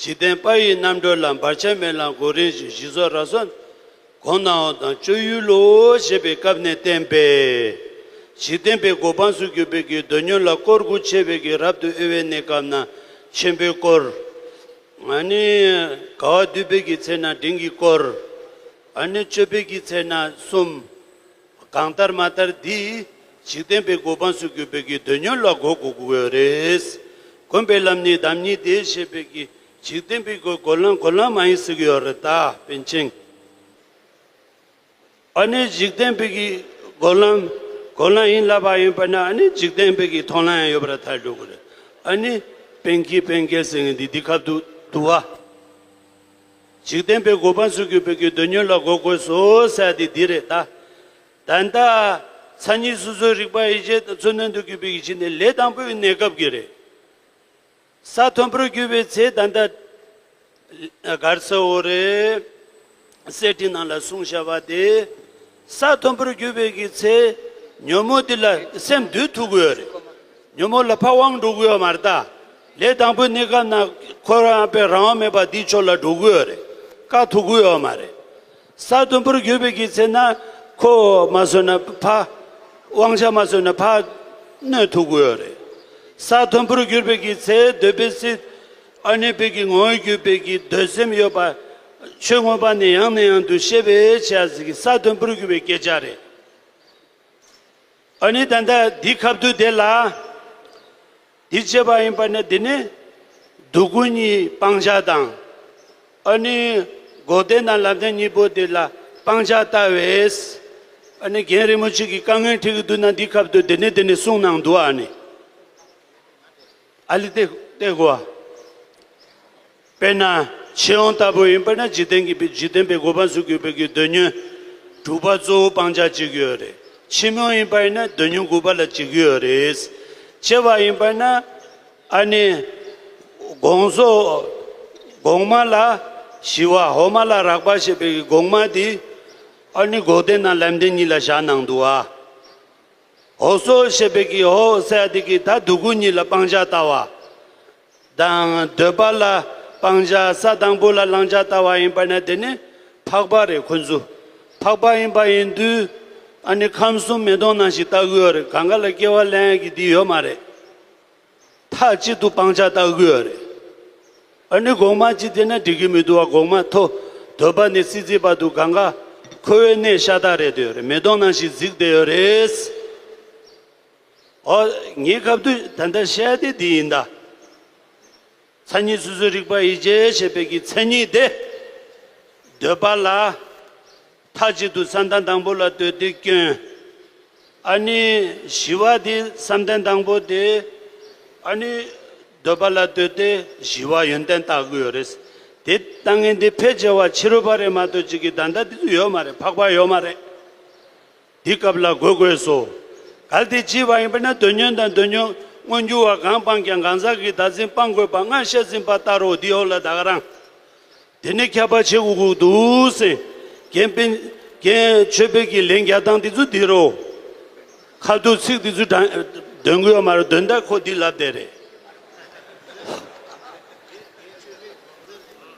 འཇིག་རྟེན་དཔའ་ཡི་རྣམ་གྲོལ་ལ་འབར་ཆད་མེད་ལ་མགོ་རིལ་གྱི་བཞི་ཚོགས་ར་སོ་གོང་ན་འོང་དང་སྤྱོད་ཡུལ་ལོ་ཞེས་པའི་སྐབས་ནས་བསྟན་པས། འཇིག་རྟེན་པའི་གོ་འཕང་སུ་གྱུར་པའི་གྱི་རྡོ་སྙོན་ལ་སྐོར་དགུ་ཕྱེ་བའི་གྱི་རབ་ཏུ་དབྱེ་བའི་གནས་སྐབས་ན་ཆེན་པོའི་སྐོར། ནི། དགའ་བ་འདུས་པའི་གྱི་ཚེ་ན་འབྲིང་གི་སྐོར། ནི། སྤྱོད་པའི་གྱི་ཚེ་ན་གསུམ། གང་ལྟར་མ་ལྟར་འདིས་འཇིག་རྟེན་པའི་གོ་འཕང་སུ་གུས་པའི་གིས་འདོད་ཉོན་ལ་གོ་གོ་གོ་གོ་རེད། གོམས་པའི་ལམ་ནི་བདམས་ཉིད་དེ་ཤེས་པའི་གིས་འཇིག་རྟེན་པའི་གོས་གོ་ལང་གོ་ལང་མ་ཡིན་སུ་གི་ཡོ་རི་ད་པན་ཆེན། ཨ་ནི་འཇིག་རྟེན་པའི་གིས་གོ་ལང་གོ་ལང་ཡིན་ལབ་པ་ཡིན་པ་ན་ཨ་ནི་འཇིག་རྟེན་པའི་གིས་མཐོང་ལང་ཡང་ཡོད་པ་ར་ཐལ་འགྲོ་གོ་རེད། ཨ་ནི་པན་གིས་པན་གལ་སེ་ངེ་འདི་འདི་ཁབ་ཏུ་དུ་བ། འཇིག་རྟེན་པའི་གོ་འཕང་སུ་གུས་པའི་གུས་འདོད་ཉོན་ལ་གོ་དགོས་སོ་ཟེར་བ་དེ་འདི་རེད་ད། ད་ལྟ། མཚན་ཉིད་སོ་སོའི་རིག་པ་ཡིད་བྱེད་དང་མཚོན་དོན་དུ་གུས་པའི་ཡིད་བྱེད་ནི་ལས་དང་པོའི་གནས་སྐབས་ཀྱི་རེད། ས་མཐོན་པོར་རྒྱུ་བའི་ཚེ་ད་ལྟ། སྒར་སེ་འོ་རེ། སེར་ཁྲི་ནང་ལ་གསུང་བྱ་བ་དེ། ས་མཐོན་པོར་རྒྱུ་བའི་གི་ཚེ། ཉོན་མོངས་དེ་ལ་སེམས་སྡུད་ཐུབ་དགོས་ཡོད་རེད། ཉོན་མོངས་ལ་ཕ་དབང་འགྲོ་དགོས་ཡོད་མ་རེད་ད། ལས་དང་པོའི་གནས་སྐབས་ན་འཁོར་བ་རྣམ་པའི་རང་དབང་མེད་པ་འདིས་ཆོག་ལ་འགྲོ་གུ་ཡོད་རེད། དཀའ་ཐུབ་གུ་ཡོད་མ་རེད། ས་དུམ་བུར་གྱུར་པའི་གི་ཚེ་ན་ཁོ་བོ་མ་བཟོད་ན་ཕ། དབང་ཆ་མ་བཟོད་ན་ཕ། གནོད་ཐུབ་གུ་ཡོད་རེད། ས་དུམ་བུར་གྱུར་པའི་གི་ཚེ་འདོད་པའི་སྲིད། ཨ་ནུའི་དཔལ་གྱི་ངོ་བོར་གྱུར་པའི་གི་འདོད་སེམས་ཡོད་པ། ཆོས་མངོན་པ་ནི་ཡང་ནས་ཡང་དུ་ཤེས་པས་བྱས་ཟིན་གི་ས་དུམ་བུར་གྱུར་པའི་སྐད་ཆ་རེད། ཨ་ནི་ད་ལྟ་འདི་ཁ་བརྡུ་དེ་ལ། འདི་བྱེད་པ་ཡིན་པ་ནི་འདི་ནི་སྡུག་ཀུན་གཉིས་སྤང་བྱ་དང། ཨ་ནི་འགོག་བདེན་དང་ལམ་བདེན་གཉིས་པོ་འདི་ལ་སྤང་བྱ་ལྟ་བས། ཨ་ནི་རྒན་རིན་པོ་ཆེ་གིས་དཀའ་ངལ་འཕྲད་ཀྱི་འདུག་ན་འདིའི་ཁབ་ཏུ་འདི་ནས་འདི་ནས་གསུངས་གནང་འདུག་ཨ་ནི། ཨ་ལི་སྟེ་སྟེ་གོ། དཔེར་ན་ཆེ་ཡང་ལྟ་བུ་ཡིན་པས་ན་འཇིག་རྟེན་གྱི་འཇིག་རྟེན་པའི་གོ་འཕང་སུ་དགོས་པའི་གི་འདོད་ཉོན་དྲུག་པ་གཙོ་བོ་སྤང་བྱ་གཅིག་ཡོད་རེད་ཕྱི་མོ་ཡིན་པས་ན་འདོད་ཉོན་དགུ་པ་ལ་གཅིག་ཡོད་རེད། སྐྱེ་བ་ཡིན་པས་ན་ཨ་ནི་གོང་སོ་གོང་མ་ལ་ཞི་བ་འོག་མ་ལ་རགས་པ་ཞེས་པའི་གི་གོང་མ་དེ་ཨ་ནི་འགོག་བདེན་དང་ལམ་བདེན་གཉིས་ལ་བཞག་གནང་འདུག་ཨ། འོག་སོ་ཞེས་པའི་གི་འོག་སའི་ཨ་དེ་གི་ད་སྡུག་གུ་གཉིས་ལ་སྤང་བྱ་ལྟ་བ། དང། འདོད་པ་ལ་སྤང་བྱ་ས་དང་པོ་ལ་བླང་བྱ་ལྟ་བ་ཡིན་པ་ནས་དེ་ནི་འཕགས་པ་རེད་ཁོ་ཚོ་འཕགས་པ་ཡིན་པ་ཡིན་དུས། ཨ་ནི་ཁམས་གསུམ་མེ་དོང་ནང་ཞིག་ལྟ་གི་ཡོད་རེད་གང་ག་ལ་སྐྱེ་བ་ལན་ཡག་གི་འདི་ཡོད་མ་རེད། མཐའ་གཅིག་ཏུ་སྤང་བྱ་ལྟ་གི་ཡོད་རེད། ཨ་ནི་གོང་མ་ཅི་བལྟས་ན་འགྲིག་གི་མི་འདུག་བ་གོང་མ་ཐོ་འདོད་པ་ནི་སྲིད་རྩེ་བར་དུ་གང་ག་ཁོ་བོའི་གནས་ཤ་སྟག་རེད་དེ་ཡོད་རེད་མེ་དོང་ནང་ཞིག་གཟིགས་བསྡད་ཡོད་རེད། ཨོ། ངས་ཁ་བསྡུས་ད་ལྟ་བཤད་དེ་འདི་ཡིན་ད། མཚན་ཉིད་སོ་སོའི་རིག་པ་ཡིད་བྱེད་ཤེས་པའི་ཀྱི་མཚན་ཉིད་དེ། འདོད་པ་ལ། མཐའ་གཅིག་ཏུ་བསམ་གཏན་དང་པོ་ལ་འདོད་དེ་སྐྱོན། ཨཱ་ནི། ཞི་བ་དེ་བསམ་གཏན་དང་པོ་དེ། ཨཱ་ནི། འདོད་པ་ལ་འདོད་དེ་ཞི་བ་ཡོན་ཏན་བརྟག་དགོས་རེད། དེ་ལྟ་ངན་དེ་ཕལ་ཆེ་བ་ཕྱི་རོལ་པ་རེད་མ་གཏོགས་གཅིག་གི་ད་ལྟ་དེ་ཚོ་ཡོད་མ་རེད་འཕགས་པ་ཡོད་མ་རེད། འདི་སྐབས་ལ་དགོད་དགོས་སོ། གལ་ཏེ་བགྱིས་པ་ཡིན་པས་ན་དོན་ཉོན་དང་དོན་ཉོན་མངོན་འགྱུར་བ་གང་སྤངས་ཀྱང་གང་ཟག་གི་བདག་འཛིན་སྤང་དགོས་པ་སྔར་བཤད་ཟིན་པ་ལྟར་རོ་འདི་འོག་ལ་བདག་རང། དེ་ནས་ཁྱབ་པ་ཆེ་འུག་འུག་ཏུ་སེང་གེ་དཔེ། རྒྱན། ཆོས་དཔེ་ཀྱི་ལན་བརྒྱ་སྟངས་འདི་ཚོ་འདིར་རོ། ཁ་བསྡུ་ཚིག་འདི་ཚོ་དྲངས། འདོན་དགོས་ཡོད་མ་རེད་འདོན་ད་ཁོ་འདི་ལབ་བསྡད་རེད།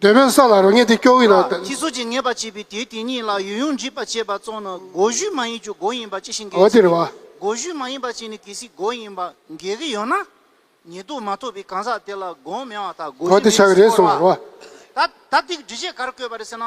འདོད་པའི་ས་ལ་རོ་མཉེས་ཏེ་སྐྱོ་བས་ན། ལ། ཐིག་ཚོགས་ཀྱིས་མཉེས་པར་བྱས་པའི་དེའི་དེ་ཉིད་ལ་ཡུལ་ཡུངས་འབྲིད་པར་བྱས་པ་གཙོ་ན་སྒོ་བཞི་མ་ཡིན་གྱི་སྒོ་ཡིན་པ་ཅི་ཞིག་འགལ་ཨོ་གྱི་དེར་བ། སྒོ་བཞི་མ་ཡིན་པ་ཅི་ནི་གལ་སྲིད་སྒོ་ཡིན་པ་འགལ་གྱི་ཡོད་ན། ཉེ་དུ་མ་ཐོབ་པའི་གང་ཟག་དེ་ལ་སྒོ་མེད་བ་དང་སྒོ་གོ་བཞི་དེ་མེད་ཆགས་ཅེས་ཆགས་རེད་བསྐོར་བ། གསུངས་པར་བ། ད་ད་ཐིག་འབྲི་བྱེད་གར་བཀོད་པ་རེད་ཟེར་ན།